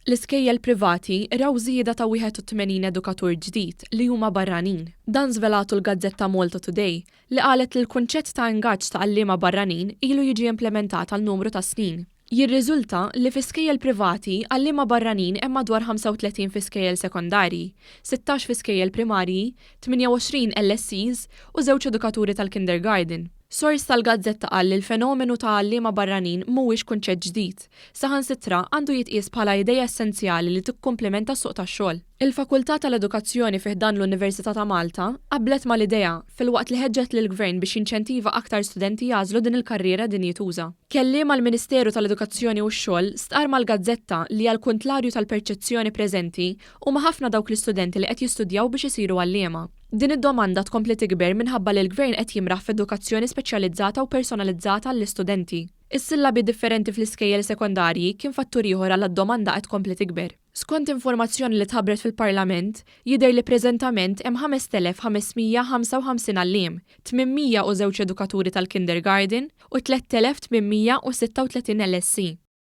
L-iskejjel privati raw żieda ta' 81 edukatur ġdid li huma barranin. Dan żvelatu l-gazzetta Malta Today li qalet li l-kunċett ta' ingaġġ ta' għalliema barranin ilu jiġi implementat għal numru ta' snin. Jirriżulta li fi skejjel privati għalliema barranin hemm madwar 35 fi skejjel sekondarji, 16 fi skejjel primarji, 28 LSEs u żewġ edukaturi tal-kindergarden. Sors tal-gazzetta qal li l-fenomenu ta' għalliema barranin mhuwiex kunċett ġdid. Saħansitra, għandu jitqies bħala idea essenzjali li tikkumplimenta s-suq tax-xogħol. Il-Fakultà tal-Edukazzjoni fi ħdan l-Università ta' Malta qablet mal-idea, filwaqt li ħeġġet lill-Gvern biex jinċentiva aktar studenti jagħżlu din il-karriera dinjituża. Kelliem għall-Ministeru tal-Edukazzjoni u x-Xogħol stqarr mal-gazzetta li għall-kuntlarju tal-perċezzjoni preżenti, huma ħafna dawk l-istudenti li qed jistudjaw biex isiru għalliema. Din id-domanda tkompli tikber minħabba li l-Gvern qed jimraħ f'edukazzjoni speċjalizzata u personalizzata għall-istudenti. Is-sillabi differenti fl-iskejjel sekondarji kien fattur ieħor għala d-domanda qed tkompli tikber. Skont informazzjoni li tħabbret fil-Parlament, jidher li preżentament hemm 5,555 għalliem, 802 edukaturi tal-kindergarten u 3,836 LSE.